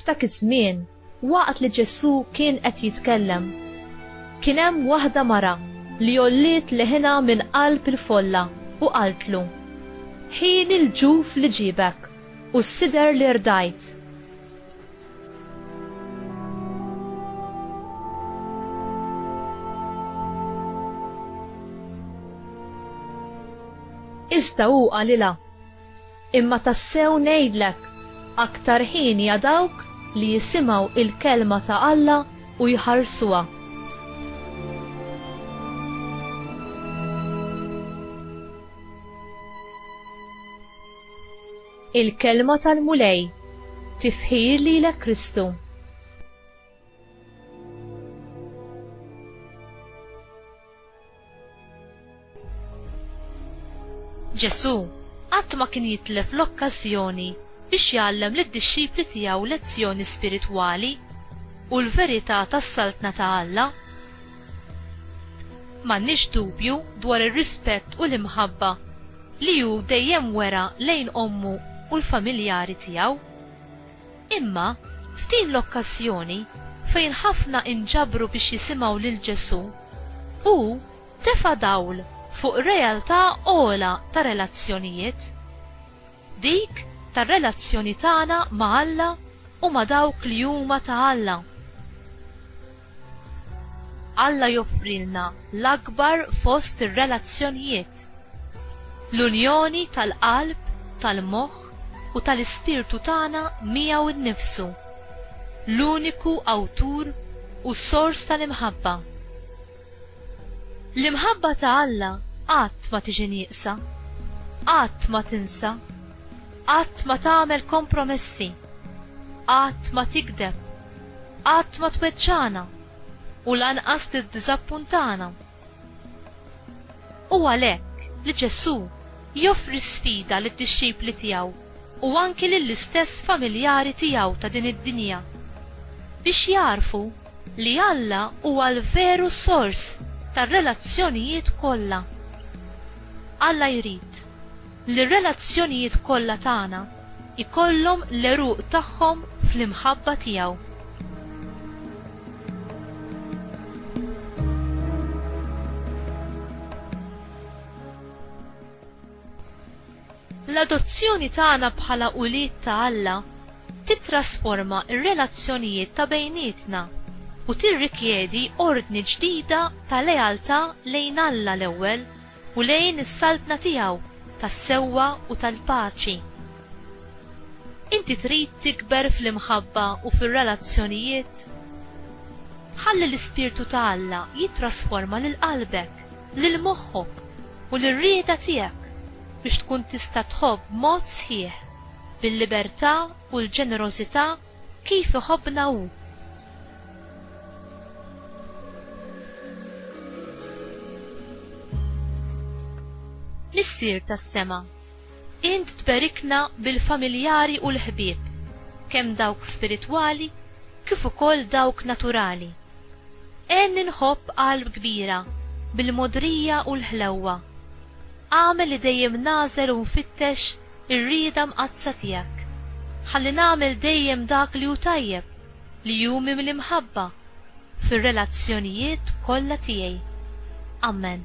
F'dak iż-żmien, waqt li Ġesù kien qed jitkellem, kien hemm waħda mara li għolliet leħinha minn qalb il-folla u qaltlu, Ħin il-ġuf li ġiebek u s-sider li rdajt. Iżda hu qalilha, Imma tassew ngħidlek, aktar ħini għal dawk li jisimgħu il-kelma ta' Alla u jħarsuha. Il-Kelma tal-Mulej, Tifħir lilek Kristu. Ġesù qatt ma kien jitlef l-okkażjoni biex jgħallem lid-dixxipli tiegħu lezzjoni spiritwali u l-verità tas-Saltna ta' Alla. M'għandniex dubju dwar ir-rispett u l-imħabba li hu dejjem wera lejn ommu u l-familjari tiegħu. Imma, f'din l-okkażjoni fejn ħafna inġabru biex jisimgħu lil Ġesù, hu tefa' dawl fuq realtà ogħla ta' relazzjonijiet. Dik tar-relazzjoni tagħna ma' Alla u ma' dawk li huma ta' Alla. Alla joffrilna l-akbar fost ir-relazzjonijiet, l-unjoni tal-qalb, tal-moħħ u tal-ispirtu tagħna miegħu nnifsu, l-uniku Awtur u Sors tal-imħabba. L-imħabba ta' Alla qatt ma tiġi nieqsa, qatt ma tinsa, qatt ma tagħmel kompromessi, qatt ma tigdeb, qatt ma tweġġagħna u lanqas tiddiżappuntana. Hu għalhekk li Ġesù joffri sfida lid-dixxipli tiegħu u anki lill-istess familjari tiegħu ta' din id-dinja biex jagħrfu li Alla huwa l-veru sors tar-relazzjonijiet kollha. Alla jrid li r-relazzjonijiet kollha tagħna jkollhom l-għeruq tagħhom fl-imħabba tiegħu. L-adozzjoni tagħna bħala ulied ta' Alla titrasforma r-relazzjonijiet ta' bejnietna u tirrikjedi ordni ġdida ta' lealtà lejn Alla l-ewwel u lejn is-Saltna tiegħu tas-sewwa u tal-paċi. Inti trid tikber fl-imħabba u fir-relazzjonijiet? Ħalli l-ispirtu ta' Alla jittrasforma lil qalbek. lil moħħok u lir-rieda tiegħek biex tkun tista' tħobb b'mod sħiħ, bil-libertà u l-ġenerożità kif iħobbna Hu. Missier tas-sema. Int tberikna bil-familjari u l-ħbieb, kemm dawk spiritwali kif ukoll dawk naturali. Għenni nħobb qalb kbira bil-mogħdrija u l-ħlewwa. Agħmel li dejjem nagħżel u nfittex ir-rieda mqaddsa tiegħek. Ħalli nagħmel dejjem dak li hu tajjeb, li hu mimli mħabba, fir-relazzjonijiet kollha tiegħi. Amen.